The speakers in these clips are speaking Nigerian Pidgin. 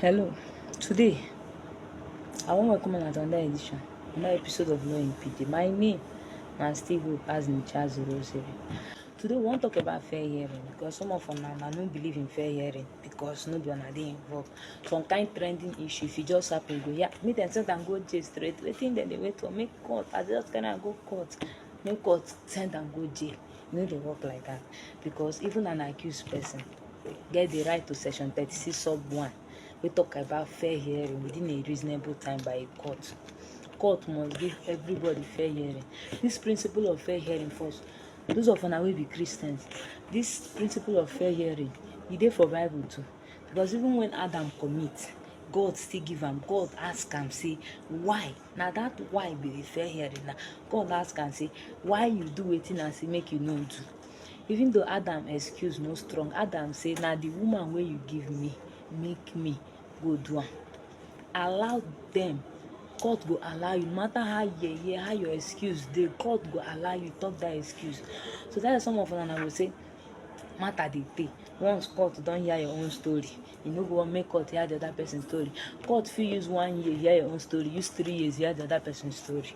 Hello, today I wan welcome una to another edition, another episode of Law in PJ. My name na Steve Hope Aznicha Zerozere. Today we wan talk about fair hearing because some of una na no believe in fair hearing because no be una dey involved. Some kind trending issue if e just happen go yeah, make dem send am go jail straight. Wetin dem dey wait for make court as dem just carry am go court make court send am go jail. E no dey work like that because even an accused person get di right to section thirty-six sub one wey tok about fair hearing within a reasonable time by a court court must give everybody fair hearing dis principle of fair hearing first those of una wey be christians dis principle of fair hearing e dey for bible too because even when adam commit god still give am god ask am say why na that why be the fair hearing na god ask am say why you do wetin i say make you no do Even though Adam excuse no strong, Adam say, na the woman wey you give me, make me go do am. Allow them. God go allow you, no matter how yeye, how your excuse dey, God go allow you talk that excuse. So that is some of una go say, matter dey tey. Once court don hear your own story, you no go wan make court hear the other person story. Court fit use one year hear your own story, use three years hear the other person story.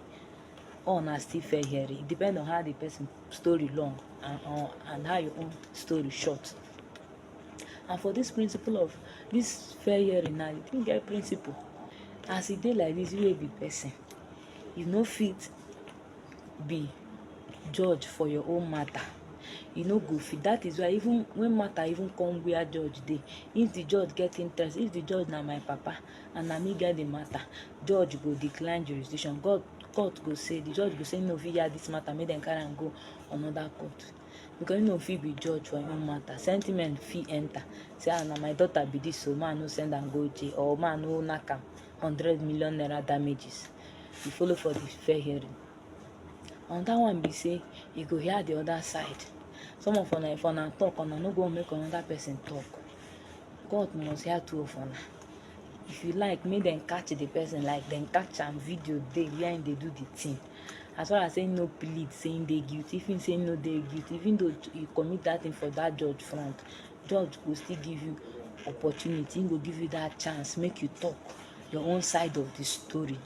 all na still fair hearing it depend on how the person story long and uh, and how your own story short and for this principle of this fair hearing now you fit get principle as e dey like this you wey be person you no fit be judge for your own matter e no go fit that is why even when matter even come where judge dey if the judge get interest if the judge na my papa and na me get the matter judge go decline jurisdiction god court go say the judge go say no fit hear this matter make dem carry am go another court because you no fit be judge for your own matter sentiment fit enter say ah na my daughter be this so man no send am go jail or man no knack am hundred million naira damages you follow for the fair hearing another one be say you go hear the other side some of una if una talk una no go make another person talk God must hear two of una. If you like, make dem catch the person, like dem catch am video dey where im dey do the thing. As far as say no plead, say im dey guilty, if im say no dey guilty, even though you commit that thing for that judge front, judge go still give you opportunity, im go give you that chance make you talk your own side of the story.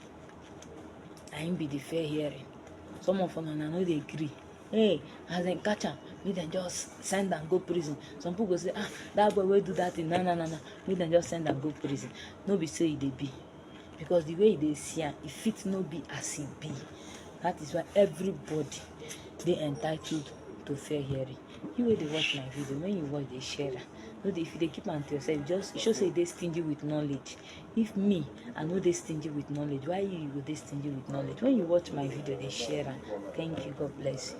Na im be the fair hearing. Some of una una no dey gree. hey as dem catch am make dem just send am go prison some people go say ah that boy wey do that thing na na na na make dem just send am go prison no be so e dey be because the way e dey see am e fit no be as e be that is why everybody dey entitled to fair hearing you wey dey watch my video when you watch dey share am no dey if you dey keep am to yourself just show say you dey stingy with knowledge if me i no dey stingy with knowledge why you you go dey stingy with knowledge when you watch my video dey share am thank you god bless you